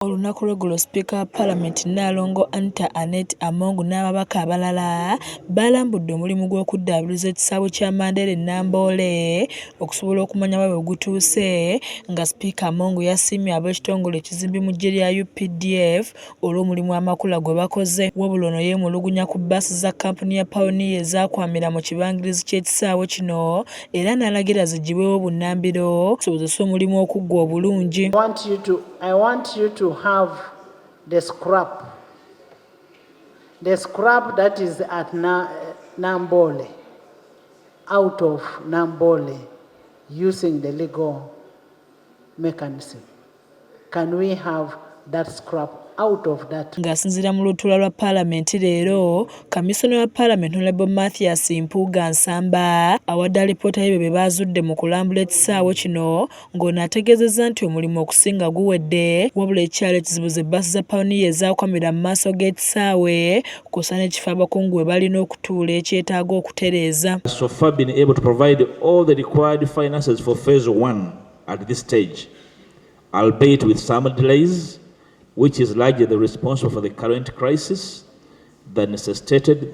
Olunaku lw'eggulo sipiika wa palamenti Nnaalongo Anita Annet Among n'ababaka abalala baalambudde omulimu gw'okuddaabiriza ekisaawe kya Mandera e Namboole okusobola okumanya wa we gutuuse nga sipiika Among yasiimye ab'ekitongole ekizimbi mu ggye lya updf olw'omulimu amakula gwe bakoze wabula ono yeemulugunya ku bbaasi za kkampuni ya pawuniya ezaakwamira mu kibangirizi ky'ekisaawe kino era n'alagira ziggyibwewo bunnambiro okusobozesa omulimu okuggwa obulungi I want you to have the scrap. The scrap that is at Na Nambole, out of Nambole, using the legal mechanism. Can we have that scrap out of that. Ng'asinziira mu lutuula lwa paalamenti leero, kamisona wa paalamenti Honorable Mathias Mpuuga Nsamba awadde alipoota y'ebyo bye baazudde mu kulambula ekisaawe kino ng'ono ategeezezza nti omulimu okusinga guwedde wabula ekyalo ekizibu ze bbaasi za pawuniya ezaakomera mu maaso g'ekisaawe kusa n'ekifo abakungu we balina okutuula ekyetaaga okutereeza albeit with some delays which is largely responsible for the current crisis that necessitated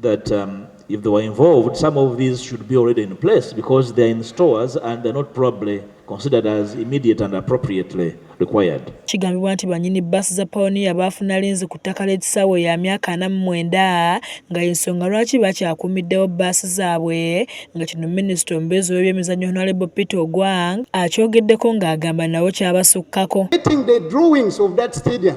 that um, if they were involved, some of these should be already in place because they are in stores and they're not probably considered as immediate and appropriately required. Kigambibwa nti banyini bus za Pioneer baafuna linzi ku ttaka ly'ekisaawe ya myaka ana mu mwenda nga y'ensonga lwaki bakyakuumiddewo bus zaabwe nga kino minisita omubeezi w'ebyemizannyo Honorable Peter Ogwang akyogeddeko ng'agamba nabo kyabasukkako. Getting the drawings of that stadium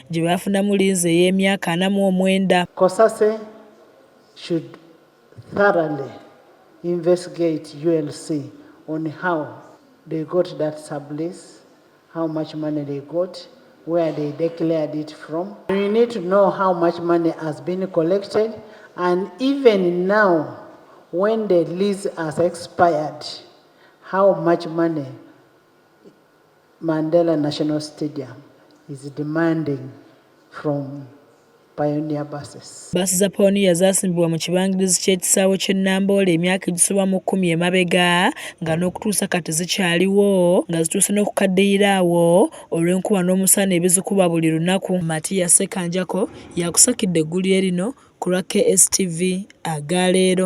gye baafunamu liizi ey'emyaka ana mu omwenda. Cosase should thoroughly investigate UNC on how they got that sublease, how much money they got, where they declared it from. We need to know how much money has been collected and even now when the lease has expired, how much money Mandela National Stadium is demanding from Pioneer buses. Bbaasi za Pioneer zaasimbibwa mu kibangirizi ky'ekisaawe ky'e Namboole emyaka egisoba mu kkumi emabega nga n'okutuusa kati zikyaliwo nga zituuse n'okukaddiyira awo olw'enkuba n'omusana ebizikuba buli lunaku. Matia Ssekanjako yakusakidde eggulire lino ku lwa KSTV aga leero.